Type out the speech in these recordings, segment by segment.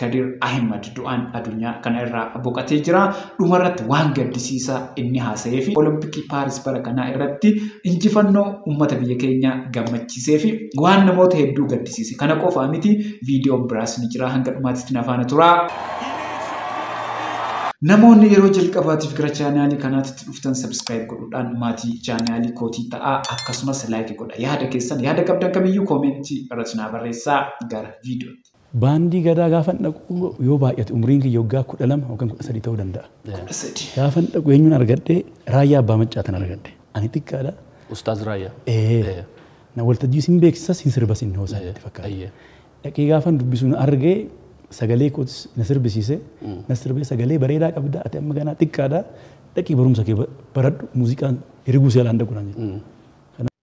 Kadir Ahimad du'aan adunyaa kana irraa boqatee jira. Dhuma irratti waan gaddisiisaa inni haasa'ee fi Olompikii Paaris bara kanaa irratti injifannoo uummata biyya keenya gammachiisee fi waan namoota hedduu gaddisiise. Kana qofaa miti viidiyoon biraas ni jira hanga dhumaatitti na faana turaa. Namoonni yeroo jalqabaatiif gara chaanaalii kanaatitti dhuftan sabiskiraayib godhuudhaan maatii chaanaalii kootii ta'aa akkasumas laayikii godha. Yaada keessan yaada qabdan kamiyyuu koomentii irratti naa barreessaa gara viidiyootti. Baandii Gadaa gaafan dhaqu yoo baay'ate umriin kiyya waggaa 12 yookaan 13 ta'uu danda'a. Kudha sadii. Gaafan dhaqu eenyuun argadhe Raayyaa Abbaa Maccaatan argadhe. Ani xiqqaadha. Ustaaz Raayyaa. Ee. Na waltajjii sin beeksisa sin sirba sin hoosaa Ayyee, natti fakkaata. ayyee. Dhaqee gaafan dubbisu na argee sagalee kootis na sirbisiise. Na sirbee sagalee bareedaa qabda ati amma ganaa xiqqaadha. Dhaqii barumsa kee ba- baradhu muuziqaan hiriguu seelaan dhaqu naan jedhe.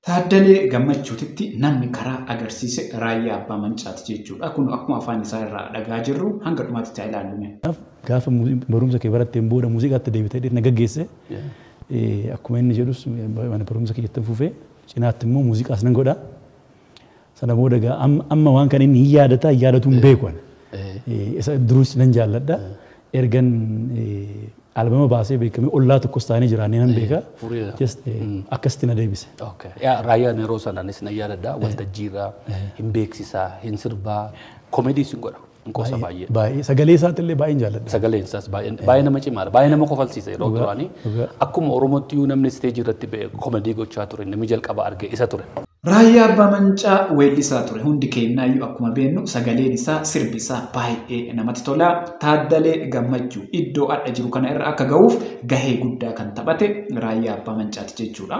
Taaddalee Gammachuutitti namni karaa agarsiise Raayyaa Abbaa Mancaati jechuudha. Kunoo akkuma afaan isaa irraa dhaga'aa jirru hanga dhumaatitti haa ilaallu mee. Kanaaf gaafa barumsa kee baratteen booda muuziqaatti deebita jedhee na gaggeesse. Akkuma inni jedhus mana barumsa kiyyattin fufee cinaatti immoo muuziqaas nan godha. Sana booda egaa am- amma waan kana inni hin yaadata hin yaadatu hin beeku ani. Eh, Isa duruus nan jaalladha. Ergan eh, albama baasee beekamee ollaa tokkos taanee jiraannee nan beeka. fureera. Just eh, akkasitti na deebise. Okay. Yaa raayyaan yeroo sanaanis na yaadadha waltajjiirra hin beeksisaa hin sirbaa komedii sin godha. Hin qoosa baay'ee. Baay'ee sagalee isaatti illee baay'een jaalladha. Sagaleen isaas baay'ee baay'ee nama cimaadha. Baay'ee nama kofalsiisa yeroo Dhugaa, duraanii. dhugaa. Akkuma Oromootti iyyuu namni isteejii irratti ba'e komedii gochaa ture namni jalqaba arge isa ture. Raayyaa Abbaa Mancaa weellisaa ture. Hundi keenyaayyuu akkuma beeknu sagaleen isaa sirbi isaa baay'ee namatti tola. Taaddalee Gammachuu iddoo adha jiru kana irra akka ga'uuf gahee guddaa kan taphate Raayyaa Abbaa Mancaati jechuudha.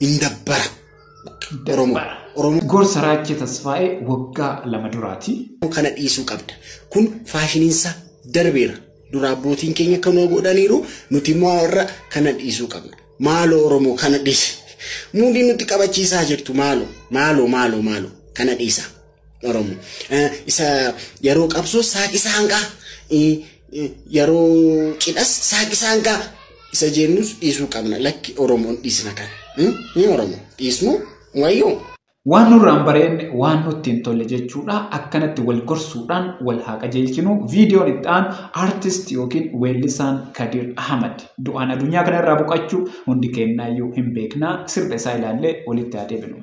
hin dabbara. Oromoo. Oromoo Gorsa Raachee Tasfaa'ee waggaa lama duraati. kana dhiisuu qabda. Kun faashiniinsaa darbeera. Dura abbootiin keenya kanuma godhaniiru nuti immoo warra kana dhiisuu qabna. Maaloo Oromoo kana dhiisi. Muudii nutti qabachiisaa jirtu maaloo maaloo maaloo maaloo kana dhiisaa. Oromo. Isa yeroo qabsoo saaqisa hangaa yeroo cidhas saaqisa hangaa isa jennus dhiisuu qabna lakki Oromoon dhiisna kan. Ni Oromo dhiisnu wayyoo. Waan nurraan bareen waan nutti hin tolle jechuudha. Akkanatti wal gorsuudhaan wal haa qajeelchinu. Viidiyoon itti aanu artist yookiin weellisaan Kadir Ahmad du'aan addunyaa kana irraa boqachuu hundi keenyaayyuu hin beekna. Sirba isaa ilaallee walitti haa deebinu.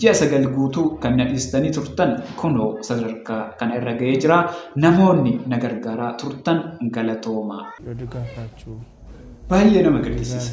Ji'a sagal guutuu kan na dhiistanii turtan kunoo sadarkaa kana irra ga'ee jira. Namoonni na gargaaraa turtan galatoomaa. Baay'ee nama gaddisiisa.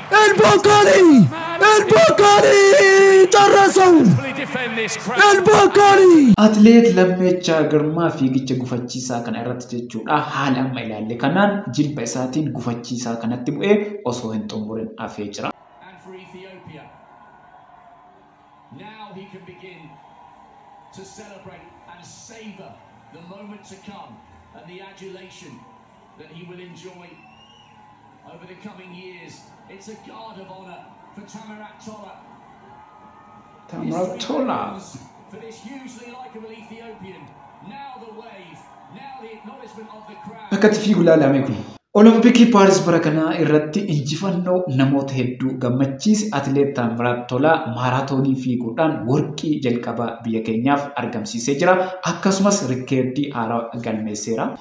El Bakkali! El Bakkali! Carrasau! El Bakkali! Atileet Lammeechaa Girmaa fiigicha gufachiisaa kana irratti jechuudha haala amma ilaalle kanaan jilba isaatiin gufachiisaa kanatti bu'ee osoo hin xumurin hafee jira. and for Ethiopia. Now he can begin to celebrate and savour the moment to come and the adulation that he will enjoy over the coming years. It's a guard of honour for Tamirat Tola. Tamirat Tola. For this hugely likeable Ethiopian. Now the wave, now the acknowledgement of the crowd. Akkatti fiigu laalame kun. Olompikii Paaris bara kanaa irratti injifannoo namoota hedduu gammachiise atileet Taamiraat Tolaa maaraatoonii fiiguudhaan warqii jalqabaa biyya keenyaaf argamsiisee jira. Akkasumas rikkeerdii haaraa galmeesseera.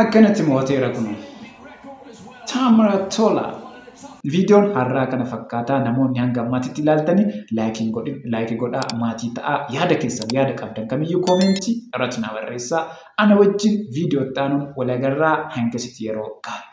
akkanatti mo'ateera kun Taamraa Tolaa. Viidiyoon har'aa kana fakkaataa namoonni hanga ammaatitti ilaaltanii laayikiin godhin laayikii godhaa maatii ta'aa yaada keessan yaada qabdan kamiyyuu koomeentii irratti na barreessaa ana wajjin viidiyoo itti aanuun walagarraa hangasitti yeroo gaarii.